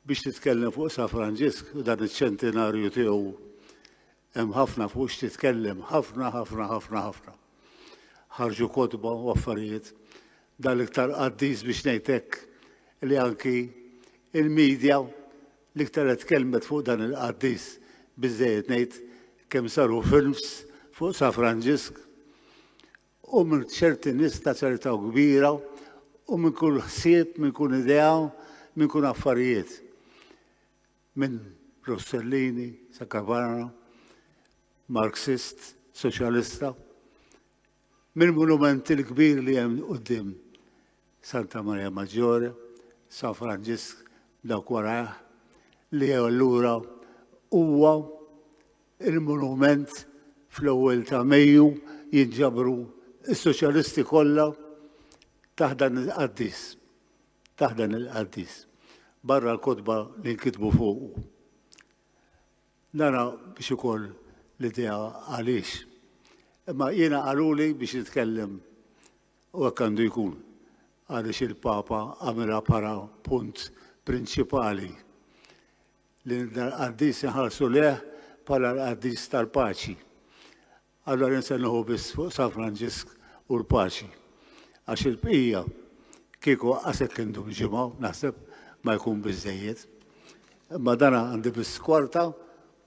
biex titkellem fuq San Franġisk u dan iċ-ċentenarju tiegħu hemm ħafna fuq x'titkellem, ħafna, ħafna, ħafna, ħafna. Ħarġu kotba u affarijiet dal-iktar qaddis biex ngħidlek li anki il-medja L-iktar qed tkellmet fuq dan il-qaddis biżżejjed ngħid kemm saru films fuq Sa Franġisk u minn ċerti nies ta' ċerta u kbira u minn kull ħsieb, minn kull idea, minn kull affarijiet. Minn Rossellini, Sa Cavarra, Marxist, Soċjalista. Mill-munument il-kbir li hemm quddiem Santa Maria Maggiore, San Franġisk dawk warajh, li allura huwa il-munument fl-ewwel ta' Mejju jinġabru s-soċjalisti kollha taħt dan il-qaddis. Taħt dan il-qaddis. Barra l-kotba li nkitbu fuqu. Nara biex ikun l-idea għaliex. Imma jiena qaluli biex nitkellem u hekk għandu jkun għaliex il-Papa għamilha para punt prinċipali li l-qaddis inħarsu leh bħala l-qaddis tal-paċi. Allura nsennuħu biss fuq San Franġisk u l-paċi. Għax il-bqija kieku għasek kindum ġimgħa naħseb ma jkun biżżejjed. Imma dana għandi biss kwarta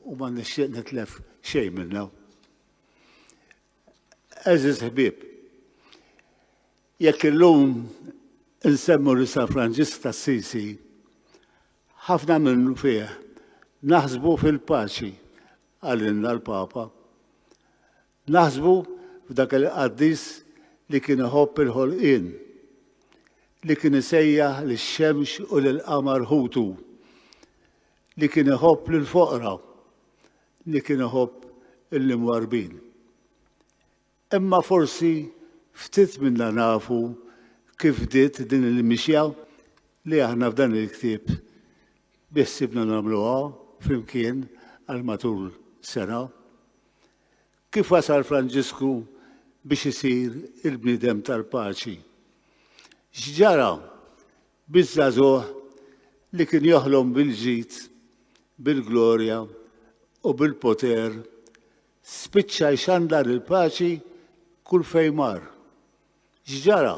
u ma nixtieq nitlef xejn minna. Eżiz ħbib, jekk illum insemmu li San Franġisk ta' Sisi, ħafna minnu fih naħsbu fil-paċi qalilna l-Papa. Naħsbu f'dak il-qaddis li kien iħobb il-ħolqien, li kien isejjaħ lix-xemx u lill-qamar ħutu, li kien iħobb lill-foqra, li kien iħobb l-imwarbin. Imma forsi ftit minna nafu kif bdiet din il-mixja li aħna f'dan il-ktieb biħsibna nagħmluha flimkien għal matul sena. Kif wasal Franġisku biex isir il-bniedem tal-paċi? X'ġara biż-żagħżugħ li kien joħlom bil-ġid, bil-glorja u bil-poter Spiċċa jxandar il-paċi kull fejn mar. X'ġara?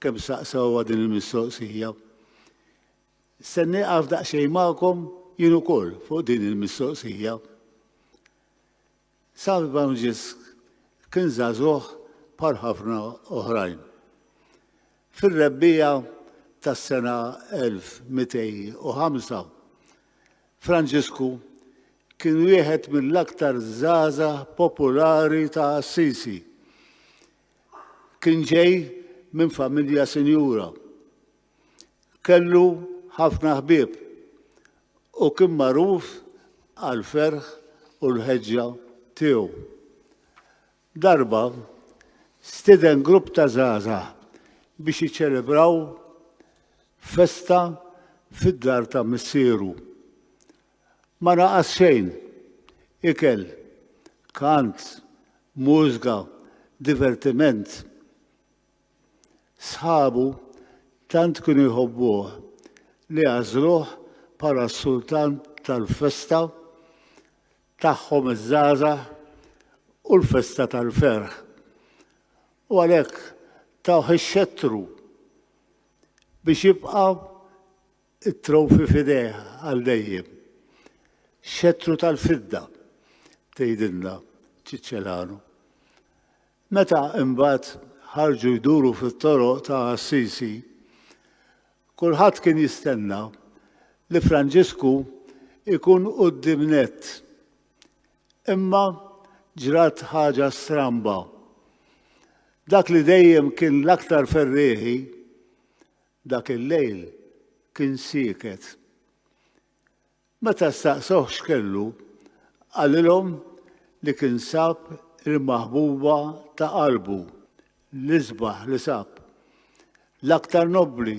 kemm staqsewha din il-mistoqsija. Se nieqaf daqsxejn magħkom jien ukoll fuq din il-mistoqsija. San Franġisk kien żagħżugħ bħal ħafna oħrajn. Fir-rebbiegħa tas-sena 1205 Franġisku kien wieħed mill-aktar żgħażagħ populari ta' Assisi. Kien ġej minn familja sinjura. Kellu ħafna ħbieb u kien magħruf għall-ferħ u l-ħeġġa tiegħu. Darba, stieden grupp ta' żgħażagħ biex jiċċelebraw festa fid-dar ta' missieru. Ma naqas xejn, ikel, kant, mużga, divertiment. Sħabu tant kienu jħobbuh li għażluh bħala s-sultan tal-festa tagħhom iż-żgħażagħ u l-festa tal-ferħ. U għalhekk tawh ix-xettru biex jibqa' t-trowfi f'idejh għal dejjem. Xettru tal-fidda, tgħidilna Ċiċċelanu. Meta imbagħad ħarġu jduru fit-toroq ta' Assisi, Kulħadd kien jistenna li Franġisku jkun quddiem nett. Imma ġrat ħaġa stramba. Dak li dejjem kien l-aktar ferrieħi, dak il-lejl kien sieket. Meta staqsewh x'kellu, qalilhom li kien sab il-maħbuba ta' qalbu, l-isbaħ li sab, l-aktar nobbli,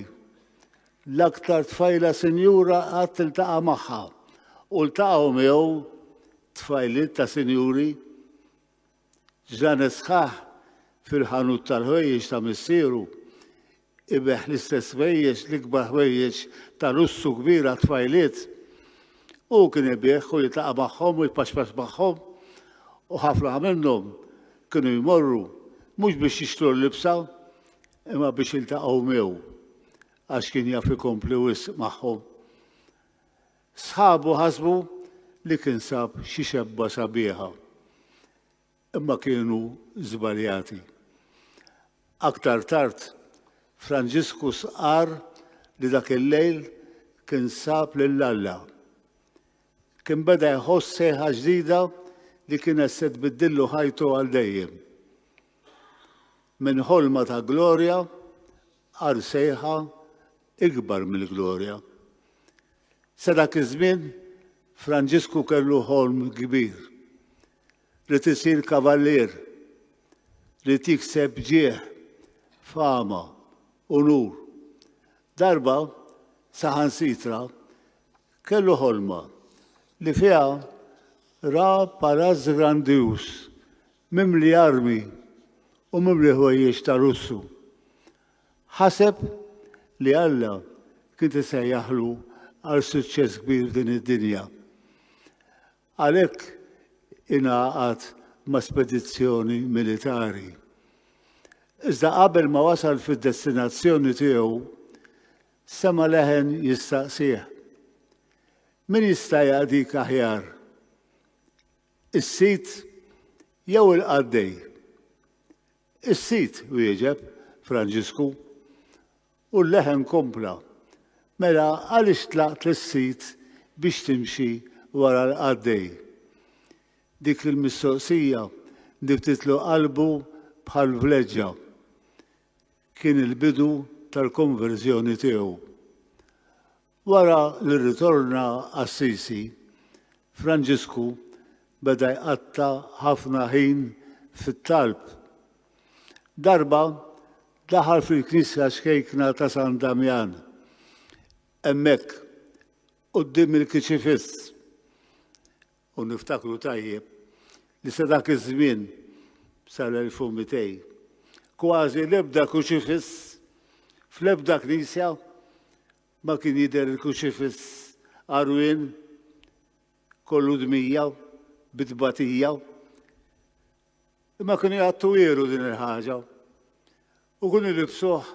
l-aktar tfajla sinjura qatt iltaqa' magħha, u ltaqgħu miegħu tfajliet ta' sinjuri. Ġranet sħaħ fil-ħanut tal-ħwejjeġ ta' missieru. Ibeħħ l-istess ħwejjeġ, l-ikbar ħwejjeġ ta' lussu kbir għat-tfajliet. Hu kien ibigħ u jitlaqa' magħhom u jpaċpaċ magħhom. U ħafna minnhom kienu jmorru mhux biex jixtru l-libsa, imma biex jiltaqgħu miegħu għax kien jaf ikompli wisq magħhom. Sħabu ħasbu li kien sab xi xebba sabiħa, imma kienu żbaljati. Aktar tard, Franġisku stqarr li dak il-lejl kien sab lil Alla. Kien beda jħoss sejħa ġdida li kienet se tbiddillu ħajtu għal dejjem. Minn ħolma ta' glorja għal sejħa ikbar mill-glorja. Sa dak iż-żmien, Franġisku kellu ħolm kbir, ried isir kavallier, ried jikseb ġieħ, fama, unur. Darba, saħansitra, kellu ħolma li fiha ra palazz grandjuż mimli armi u mimli ħwejjeġ ta' lussu. Ħaseb li Alla kien se jsejjaħlu għal suċċess kbir f'din id-dinja. Għalhekk ingħaqad ma' spedizzjoni militari. Iżda qabel ma wasal fid-destinazzjoni tiegħu, sema leħen jistaqsih. Min jista' jaqdik aħjar? Is-sid jew il-qaddej? Is-Sid wieġeb, Franġisku. U l-leħen kompla, Mela għaliex tlaqt lis-Sid biex timxi wara l-qaddej? Dik il-mistoqsija ndibtitlu qalbu bħal vleġġa. Kien il-bidu tal-konverżjoni tiegħu. Wara li rritorna Assisi, Franġisku beda jqatta' ħafna ħin fit-talb. Darba daħal fil-knisja xkejkna ta' San Damjan. Hemmhekk, quddiem il-kiċifiss, u niftakru tajjeb li sa dak iż-żmien sal-1200 kważi l-ebda kiċifiss fl-ebda knisja Ma kien jidher il-kruċifiss għarwien kollu dmija bi tbatija. Imma kienu jgħattu ieru din il-ħaġa u kienu libsuh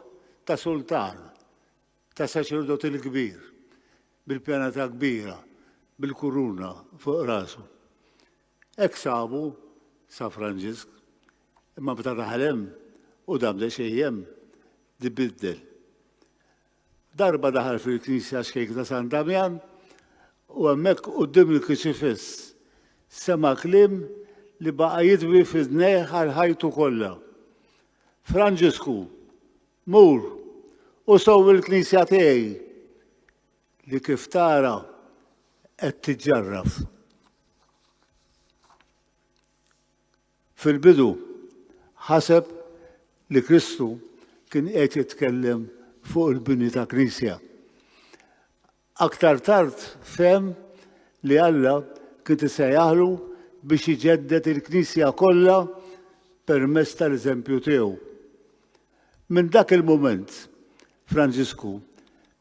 ta' sultan, ta' saċerdot il-kbir, bil-pjana ta' kbira, bil-kuruna fuq rasu. Ek sabu sa' Franġisk, imma bta' taħlem u dam xejjem dibiddel. Darba daħal fil-knisja xejk ta' San Damjan u hemmhekk quddiem il-kruċifiss sema' kliem li baqa' jidwi f'idnejh għal ħajtu kollha. Franġisku, mur u sewwi l-knisja tiegħi li kif tara qed tiġġarraf. Fil-bidu, ħaseb li Kristu kien qed jitkellem fuq il-bini ta' knisja. Aktar tard fehem li Alla kien isejjaħlu biex iġedded il-knisja kollha permezz tal-eżempju tiegħu. Minn dak il-mument, Franġisku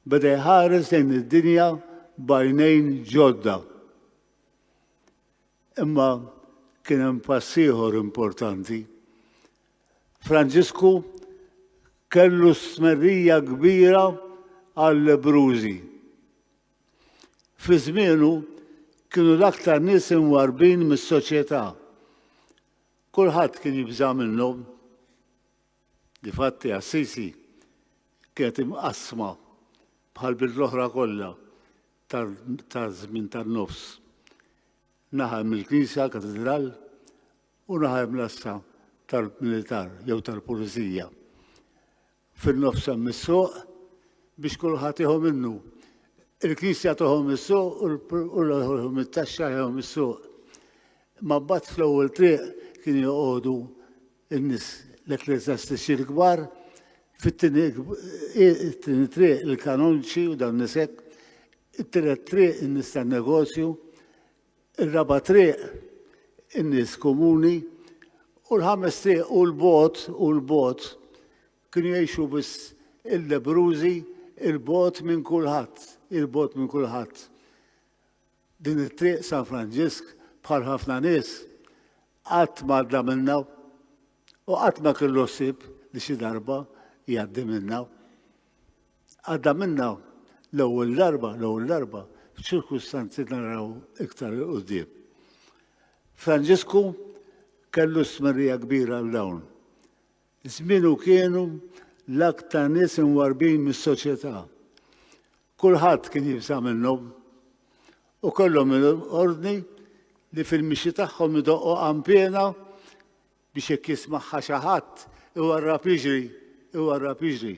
beda jħares lejn id-dinja b'għajnejn ġodda. Imma kien hemm pass ieħor importanti. Franġisku kellu stmerrija kbira għall-lebrużi. Fi żmienu kienu l-aktar nies imwarbin mis-soċjetà. Kulħadd kien jibża' minnhom. Difatti Assisi kienet imqassma bħal bild l-oħra kollha taż-żmien tan-nofs. Naħa hemm il-knisja, l-katidral, u naħa hemm l-assa tal-militar jew tal-pulizija. Fin-nofs hemm is-suq biex kulħadd jieħu minnu. Il-knisja toħu mis-suq u l-ħu mit-taxxa jieħu mis-suq. Ma mbagħad fl-ewwel triq kien joqogħdu in-nies l-ekkleżjastiċi l-kbar, fit-tieni it-tieni triq il-kanonċi u dawn nies hekk, it-tielet triq in-nies tan-negozju, ir-raba' triq in-nies komuni, u l-ħames triq u l-bot u l-bot kienu jgħixu biss il-lebrużi il-bot minn kulħadd, il-bot minn kulħadd. Din it-triq San Franġisk bħal ħafna nies qatt ma għadda minnha u qatt ma kellu ħsieb li xi darba jgħaddi minnha. Għadda minnha l-ewwel darba, l-ewwel darba, f'ċirkustanzi naraw iktar il-qudiem. Franġisku kellu smerija kbira għal dawn. Zminu kienu l-aktar nies inwarbin mis-soċjetà. Kulħadd kien jibża' minnhom u kellhom il-ordni li fil-mixi tagħhom idoqqu qanpiena biex jekk jismagħha xi ħadd iwarrab jiġri, iwarrab jiġri.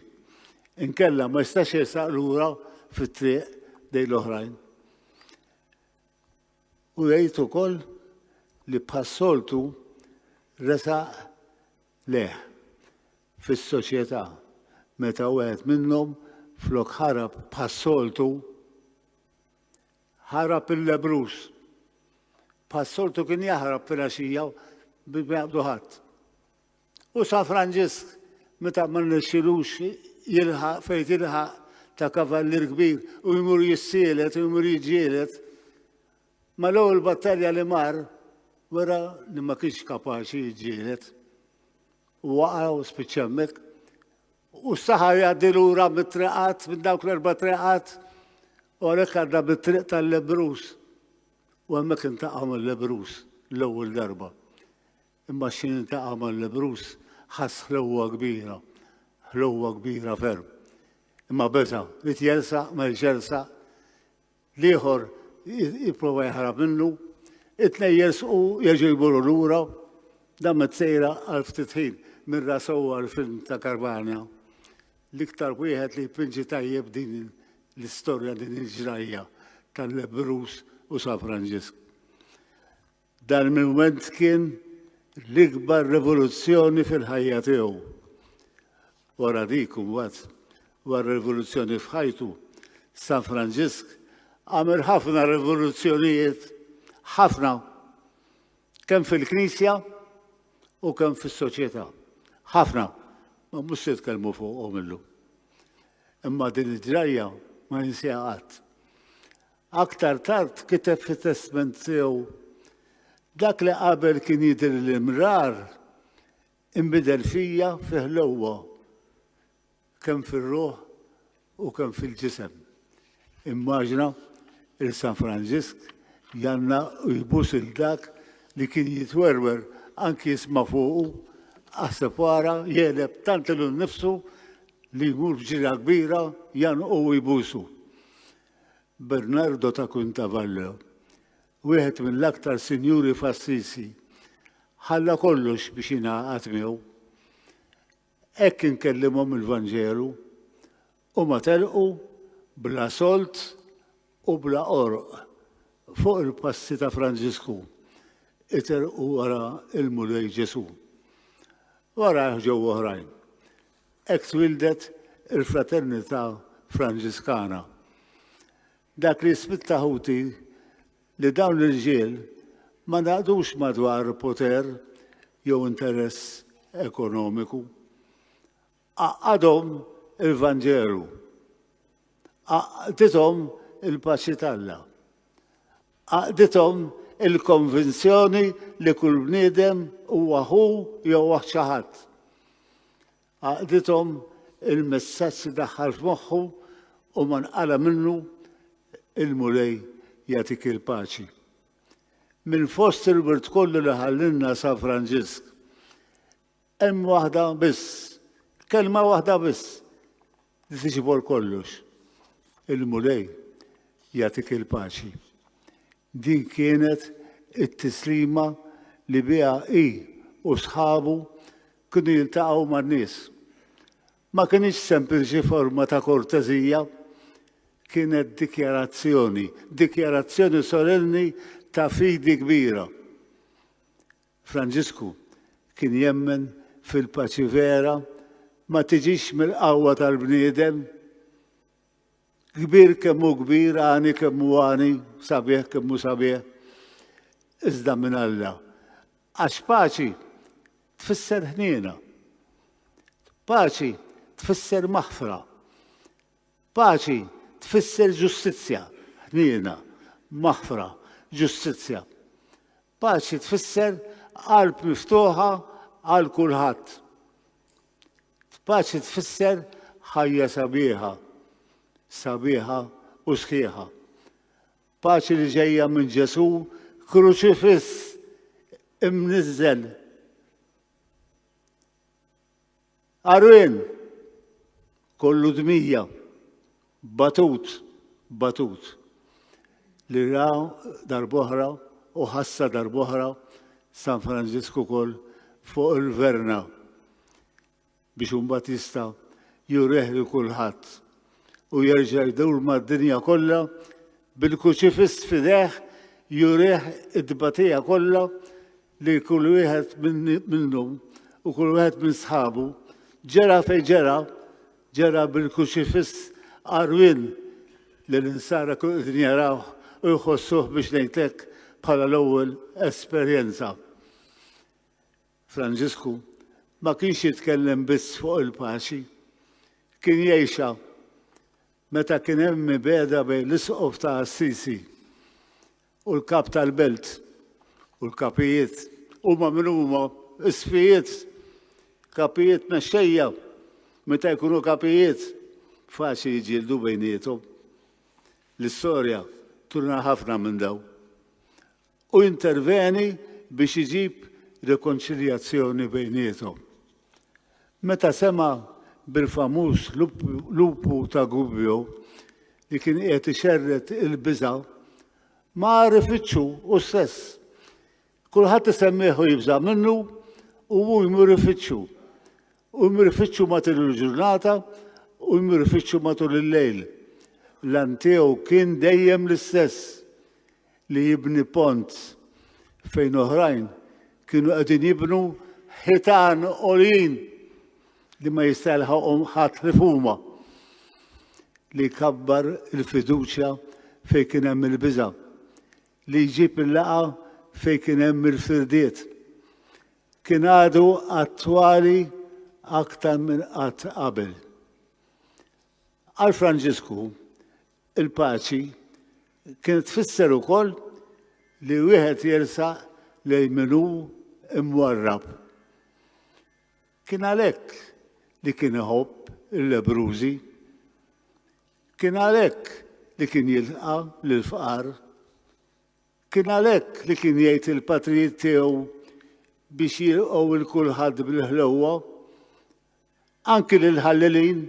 Inkella ma jistax jersaq lura fit-triq lejn l-oħrajn. U jgħid ukoll li bħas-soltu resaq leh. fis-soċjetà meta wieħed minnhom flok ħarab bħas-soltu ħarab il-lebruż. Bħas-soltu kien jaħrab fil-għaxija bi jaqdu ħadd. U San Franġisk meta ma nixxilux jilħaq fejn jilħaq ta' kavallir kbir u jmur jissielet u jmur jiġġielet. Ma l-ewwel battalja li mar wara li ma kienx kapaċi jiġġielet. u waqgħu u spiċċa hemmhekk. U s-saħar jgħaddi lura mit-triqat, minn dawk l-erba' triqat, u għalhekk għadda bit-triq tal-lebrus. U hemmhekk intaqa' mal-lebrus l-ewwel darba. Imma x'in intaqa' mal-lebrus ħass ħlewwa kbira, ħlewwa kbira ferm. Imma beża, li tjelsa, ma jxelsa, L-ieħor jipprova jaħrab minnu, it-tnej jersqu jeġu jmorru lura, dan met sejra għal ftit ħin minn rasowa l-film ta' Karbanja. L-iktar wieħed li jpinġi tajjeb din l-istorja din il-ġrajja tal-Lebrus u San Franġisk. Dan il-mument kien l-ikbar rivoluzzjoni fil-ħajja tiegħu. Wara dik imbagħad, wara rivoluzzjoni f'ħajtu, San Franġisk għamel ħafna rivoluzzjonijiet, ħafna, kemm fil-Knisja u kemm fis-soċjetà. Ħafna, ma mhux se tkellmu fuqhom illum. Imma din id-drajja ma jinsiha qatt. Aktar tard kiteb fit-testment tiegħu, Dak li qabel kien jidhirli mrar inbidel fija fi ħlewwa kemm fir-ruħ u kemm fil-ġisem. Immaġina il San Franġisk janna u jbus il dak li kien jitwerwer anki jisma' fuqu, aħseb wara jegħleb tant ilu nnifsu li jmur b'ġirja kbira janqu u jbusu. Bernardo ta' Quintavallo, wieħed mill-aktar sinjuri f'Assisi, ħalla kollox biex jingħaqad miegħu. Hekk inkellimhom il-Vanġelu, huma telqu bla solt u bla qorq fuq il-passi ta' Franġisku, iterqu wara l-Mulej Ġesù. Warajh ġew oħrajn. Hekk twieldet il-Fraternità Franġiskana. Dak li jispitta ħuti li dawn l-irġiel ma ngħaqdux madwar poter jew interess ekonomiku. Għaqqadhom il-Vanġelu. Għaqqdithom il-paċi t'Alla. Għaqdithom il-konvinzjoni li kull bniedem huwa ħu jew oħt xi ħadd. Għaqdithom il-messaġġ li daħħal f'moħħu u ma nqala minnu il-Mulej jagħtik il-paċi. Minn fost il-wirt kollu li ħallilna San Franġisk, Hemm waħda biss, kelma waħda biss li tiġibor kollox. Il-Mulej jagħtik il-paċi. Din kienet it-tislima li biha hi u sħabu kienu jiltaqgħu man-nies. Ma kienx sempliċi forma ta' kortezija, kienet dikjarazzjoni, dikjarazzjoni solenni ta' fidi kbira. Franġisku kien jemmen fil-paċi vera ma tiġix mill-qawwa tal-bniedem. Kbir kemm hu kbir, għani kemm hu għani, sabiħ kemm hu sabiħ, iżda minn Alla. Għax paċi tfisser ħniena. Paċi tfisser maħfra. Paċi tfisser ġustizzja, ħniena, maħfra, ġustizzja. Paċi tfisser qalb miftuħa għal kulħadd. Paċi tfisser ħajja sabiħa, sabiħa u sħiħa. Paċi li ġejja minn Ġesu kruċifiss imniżżel Arwen! Kollu dmija, batut, batut, li ra darboħra u ħassa darboħra San Franġisku kol fuq il-verna biex un Batista jureh li kulħadd u jerġa' jdur mad-dinja kollha bil-kuċifiss fideħ jurih id-batija kollha li kull wieħed minnhom u kull wieħed minn sħabu ġera fejn ġera, ġera bil-kuċifiss qarwien li l-insara kull qegħdin jarawh u jħossuh biex ngħidlek bħala l-ewwel esperjenza. Franġisku ma kienx jitkellem biss fuq il-paċi, kien jgħixha meta kien hemm mibeda bejn l-isqof ta' Assisi u l-Kap tal-Belt u l-kapijiet huma min huma isfijiet kapijiet mexxejja meta jkunu kapijiet faċli jiġġieldu bejniethom. L-istorja turna ħafna minn daw. U interveni biex iġib rekonċiljazzjoni bejniethom. Meta sema' bil-famuż lupu ta' Gubbio li kien qiegħed ixerred il-biża', ma għaref iċċu hu stess. Kulħadd isemmih u jibża' minnu u hu jmur ifittxu. U jmur ifittxu matul il-ġurnata u jmur ifittxu matul il-lejl. L-għan tiegħu kien dejjem l-istess. li jibni pont fejn oħrajn kienu qegħdin jibnu ħitan għoljin li ma jista' jilħaqhom ħadd ħlief huma li jkabbar il-fiduċja fejn kien hemm il-biża' li jġib il-laqa fejn kien hemm il-firdiet. Kien għadu attwali aktar minn qatt qabel. Għal Franġisku, Il-paċi kienet tfisser ukoll li wieħed jersaq lejn min hu mwarrab. Kien għalhekk li kien iħobb il-lebrużi. Kien għalhekk li kien jilqa' lill-fqar. Kien għalhekk li kien jgħid il-patrijiet tiegħu biex jilqgħu il kulħadd bil-ħlewwa. anki lill-ħallelin,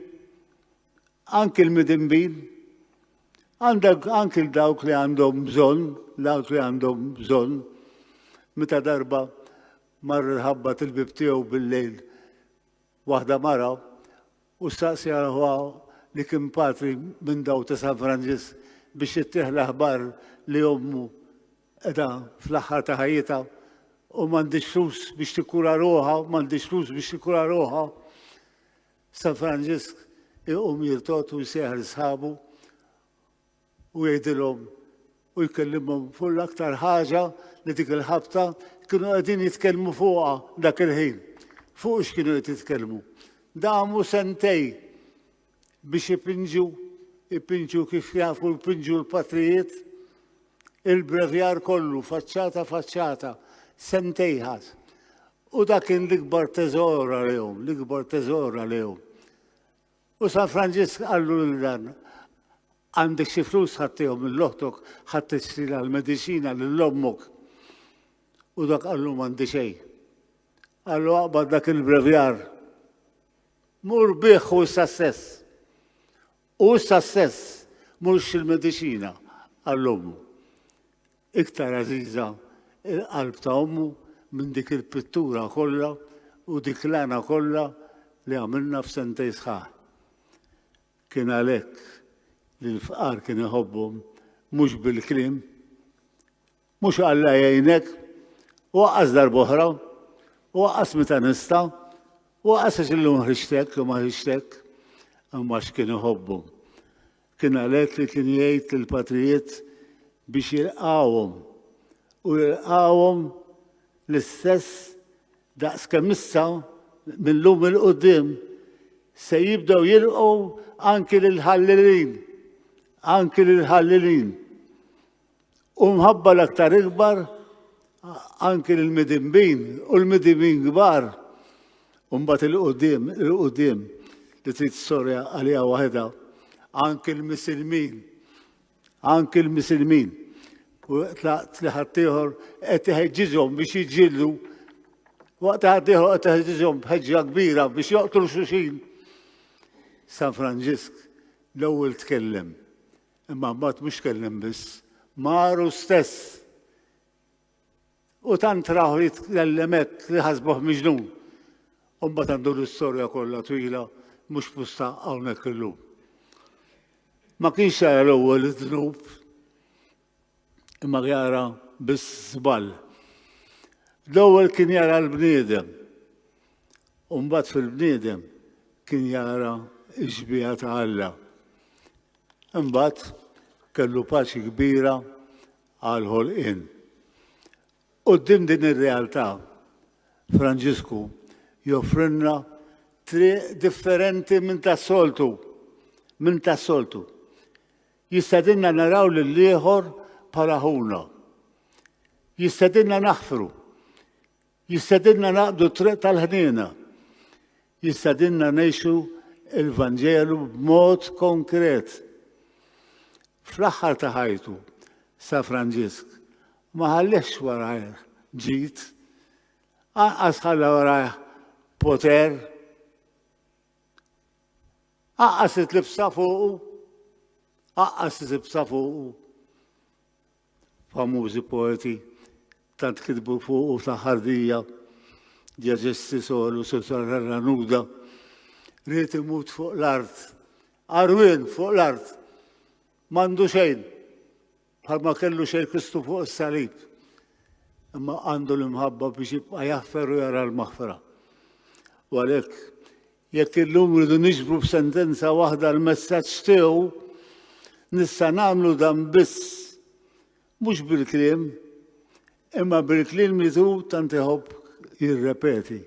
anki l-midinbin, għandek anki l-dawk li għandhom bżonn, dawk li għandhom bżonn, meta darba mar il-ħabba til-bib tiegħu bil-lejl waħda mara u staqsi għalħuha li kien patri minn daw ta' San Franġis biex jittieħ l-aħbar li ommu Qiegħda fl-aħħar ta' ħajjitha u m'għandhiex flus biex tikkura ruħha, m'għandhiex flus biex tikkura ruħha. San Franġisk iqum jirtod u jsejħ l-sħabu u jgħidilhom u jkellimhom fuq l-aktar ħaġa li dik il-ħabta kienu qegħdin jitkellmu fuqha dak il-ħin. Fuq x'kienu qed jitkellmu. Damu sentej biex ipinġu, ipinġu kif jafu jpinġu l-patrijiet, il-brevjar kollu, faċċata faċċata, sentejħas. U dak kien l-ikbar teżor għalihom, l-ikbar teżor għalihom. U San Franġisk qallu lil dan, għandek xi flus ħattihom mill-oħtok ħadd tisrina l-mediċina lil ommok. U dak qallu m'għandi xejn. Qallu aqbad dak il-brevjar Mur bih hu s-sassess. Hu s-sassess mhux il-mediċina, qal ommu. Iktar għażiża il-qalb ta' ommu minn dik il-pittura kollha u dik l-għana kollha li għamilna f'sentej sħaħ. Kien għalhekk li l-fqar kien iħobbhom mhux bil-kliem, Mhux Alla jgħinek, u aqqas darb'oħra, u aqqas meta nista', u aqqas għax illum ħriġtek u ma ħriġtek, imma x'kien iħobbu. Kien għalhekk li kien jgħid lill-patrijiet biex jilqawhom u jilqawhom l-istess daqs kemm issa mill-lum il-qudiem se jibdew jilqgħu anki lil ħallilin, anki lil ħallilin. U mħabba l-aktar ikbar anki l-midimbin u l-midimbin kbar mbagħad il-qudiem, il-qudiem li trid sorja għaliha waħedha anki l-misilmin, anki l-misilmin. U tlaqt li ħaddieħor qed iħeġġiġhom biex jiġġieldu waqt ħaddieħor qed iħeġġiġhom b'ħeġġa kbira biex joqtlu xuxin. San Franġisk l-ewwel tkellem Imma mbagħad mhux tkellem biss, maru stess. U tant raħu jitkellem hekk li ħasbuh miġnun. U mbagħad għandu l-istorja kollha twila mhux pusta hawnhekk illum. Ma kienx jara l-ewwel id-dnub. imma jara biss żball. L-ewwel kien jara l-bniedem, u mbagħad fil-bniedem kien jara x-xbieha ta' Alla. Imbagħad kellu paċi kbira għal ħolqien. Qudiem din ir-realtà, Franġisku joffrilna triq differenti minn tas-soltu, minn tas-soltu. Jistedinna naraw lill-ieħor bħala ħuna. Jistedinna naħfru. Jistedinna naqdu triq tal-ħniena. Jistedinna ngħixu il-Vanġelu b'mod konkret. Fl-aħħar ta' ħajtu, sa Franġisk, ma ħallix warajh ġid, anqas ħalla warajh poter, Aqqas it-tlibsa fuqu, aqqas it-tlibsa fuqu. Famużi poeti tant kitbu fuqu ta' ħardija, ġeġesti solu sotarra nuda, rrit imut fuq l-art, arwin fuq l-art, mandu xejn, Bħalma kellu xejn Kristu fuq is-salib, imma għandu l-imħabba biex jibqa' jaffer u jara l-maħfra. U għalhekk, jekk illum rridu niġbru b'sentenza waħda l-messaġġ tiegħu, nista' nagħmlu dan biss mhux bil-kliem, imma bil-kliem li tu tant iħobb jirrepeti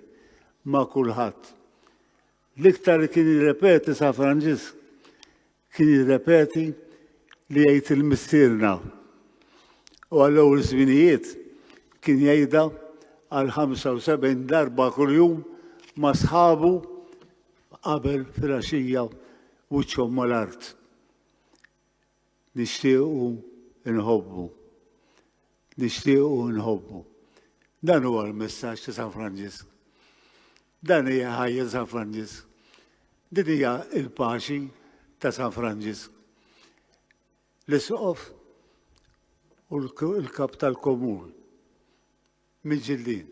ma' kulħadd. L-iktar li kien jirrepeti sa' Franġisk Kien jirrepeti li jgħid il-Missierna u għall-ewwel żminijiet kien jgħidha għal 75 darba kuljum ma' sħabu qabel fil-għaxija wiċċhom mal-art. Nixtiequ nħobbu. Nixtiequ u nħobbu. Dan huwa l-messaġġ ta' San Franġisk. Dan hija ħajja ta' San Franġisk. Din hija l-paċi ta' San Franġisk. L-isqof u l-kap tal-komun miġillin.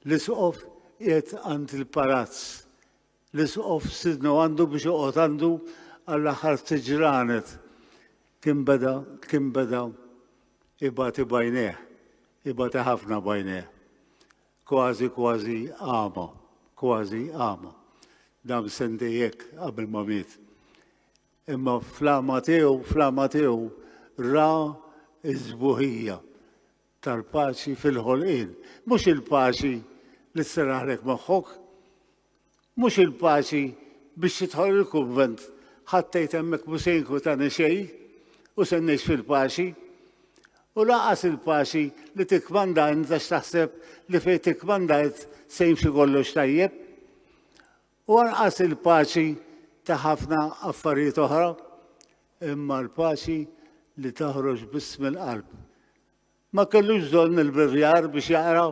L-isqof qiegħed għand il-palazz L-Isqof sidnu għandu biex joqgħod għandu għall-aħħar ftit ġranet. Kien beda, kien beda ibati bajnejh, ibati ħafna bajnejh. Kważi, kważi għama, kważi għama. Dam sentejek qabel ma miet. Imma flama tiegħu, flama tiegħu ra iż-żbuħija. tal-paċi fil-ħolqien. Mhux il-paċi li sserraħlek moħħok. Mhux il-paċi biex tidħol il-kunvent ħattejt hemmhekk mhux se jinkwitani xejn u se ngħix fil-paċi. U laqas il-paċi li tikmanda inta x'taħseb li fejn tikmandajt se jimxi kollox tajjeb. U anqas il-paċi ta' ħafna affarijiet oħra, imma l-paċi li taħroġ biss mill-qalb. Ma kellux bżonn il-bivjar biex jaqra,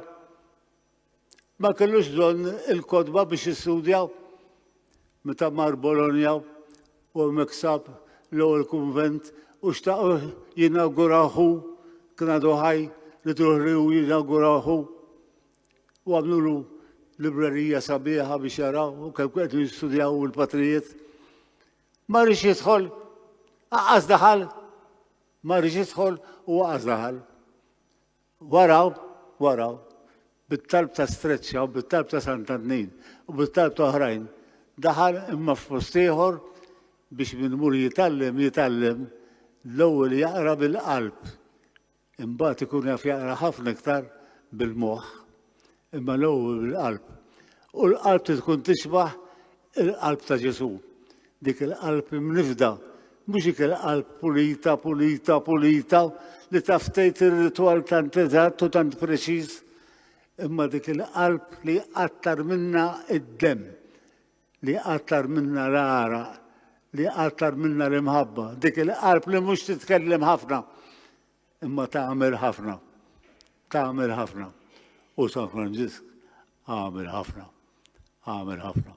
ma kellux bżonn il-kodba biex jistudja, meta mar Bologna u hemmhekk sab l-ewwel kunvent u xtaq jinawguraħu kien għadu ħaj li truħ li hu jinawguraħu. u għamlulu librerija sabiħa biex jaraw u kemm qed jistudjaw il-patrijiet. Ma rridx jidħol, aqqas daħal, ma rridx jidħol u aqqas daħal. Waraw, waraw, bit-talb ta' streċċa u bit-talb ta' Sant'Annin u bit-talb ta' oħrajn, daħal imma f'post ieħor biex minn mur jitallem jitallem l-ewwel jaqra bil-qalb Imbagħad ikun jaf jaqra ħafna iktar bil-moħħ, imma l-ewwel bil-qalb. U l-qalb trid tkun tixbaħ il-qalb ta' Ġesù. Dik il-qalb imnifda, mhux dik il-qalb pulita, pulita, pulita, li taf tgħid ir-ritwal tant eżatt u tant preċiż, imma dik il-qalb li jqattar minna id-demm. li jqattar minna l-għaraq, li jqattar minna l-imħabba, dik il-qalb li mhux titkellem ħafna, imma tagħmel ħafna, tagħmel ħafna. U San Franġisk għamel ħafna, għamel ħafna.